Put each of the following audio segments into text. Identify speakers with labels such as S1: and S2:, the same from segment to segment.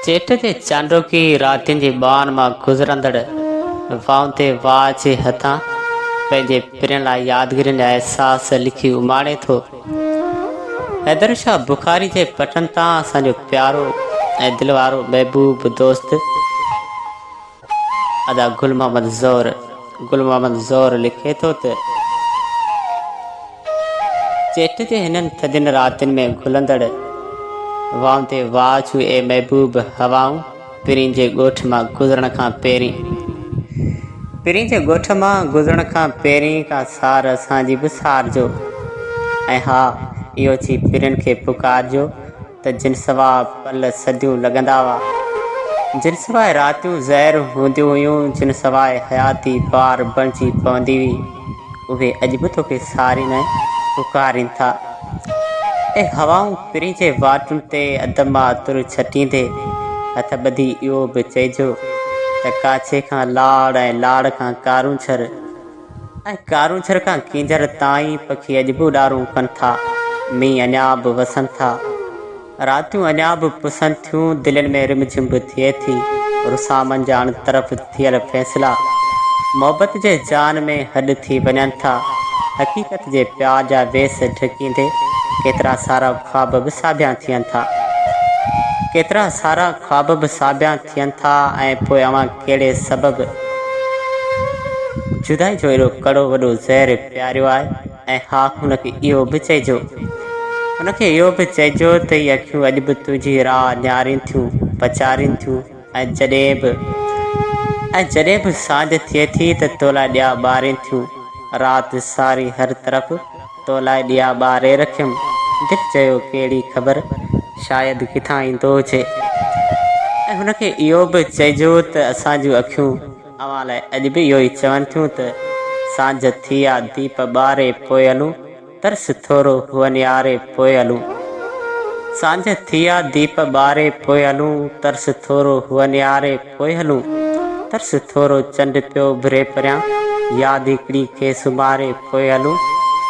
S1: چيٽ جي چانڊوڪي راتين جي ٻانهن مان گذرندڙ وائن تي واء جي هٿان پنهنجي پرين لاء يادگيرين جا احساس لکي اماڻي ٿو. حيدر شاهه بخاري جي پٽن تان اسان جو پيارو ۽ دل وارو محبوب دوست، ادا گل محمد زهر گل محمد زهر لکي ٿو ته، چيٽ جي هنن ٿڌين راتين ۾ گهلندڙ وائن تي واچ اي محبوب هوائون پرين جي ڳوٺ مان گذرڻ کان پهرين پرين جي ڳوٺ مان گذرڻ کان پهرين ڪا سار اسان جي به سارجو ۽ ها اهو چئي پرين کي پڪارجو ته جن سوا پل صديون لڳندا هئا، جن سوا راتيون زهر هونديون هيون، جن سوا حياتي بار بڻجي پوندي هئي، اهي اڄ به توکي سارين ۽ پڪارين ٿا. اي هوائون پرين جي واٽن تي ادب مان عطر ڇٽيندي، هٿ ٻڌي اهو به چئجو ته ڪاڇي کان لاڙ ۽ لاڙ کان ڪارونجهر، ۽ ڪارونجهر کان ڪينجهر تائين پکي اڄ به اڏارون ڪن ٿا، مينهن اڃا به وسن ٿا، راتيون اڃا به پسن ٿيون، دلين ۾ رم جھم به ٿئي ٿي، رسامن جا اڻ طرف ٿيل فيصلا محبت جي جان ۾ هڏ ٿي وڃن ٿا، حقيقت جي پيار جا ويس ڍڪيندي ڪيترا سارا خواب به ساڀيان ٿين ٿا، ڪيترا سارا خواب به ساڀيان ٿين ٿا ۽ پوء اوهان ڪهڙي سبب جدائي جو اهڙو ڪڙو وڏو زهر پياريو آهي؟ ۽ ها هن کي اهو به چئجو هن کي اهو به چئجو ته هي اکيون اڄ به تنهنجي راهه نهارين ٿيون، پچارين ٿيون ۽ جڏهن به ۽ جڏهن به سانجهه ٿئي ٿي ته تو لاء ڏيئا ٻارين ٿيون، رات ساري هر طرف. تو لاء ڏيئا ٻاري رکيم. دل چيو ڪهڙي خبر شايد ڪٿان ايندو هجي ۽ هن کي اهو به چئجو ته اسان جون اکيون اوهان لاء اڄ به اهو ئي چون ٿيون ته سانجهه ٿي آ ديپ ٻاري پوء هلون ترس ٿورو هو نهاري پوء هلون سانجهه ٿي آ ديپ ٻاري پوء هلون ترس ٿورو هو نهاري پوء هلون. ترس ٿورو چنڊ پيو اڀري پريان. ياد هڪڙي کي سمهاري پوء هلون.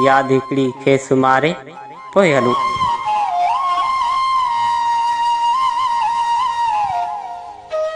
S1: ياد هڪڙي کي سمهاري پوء هلون.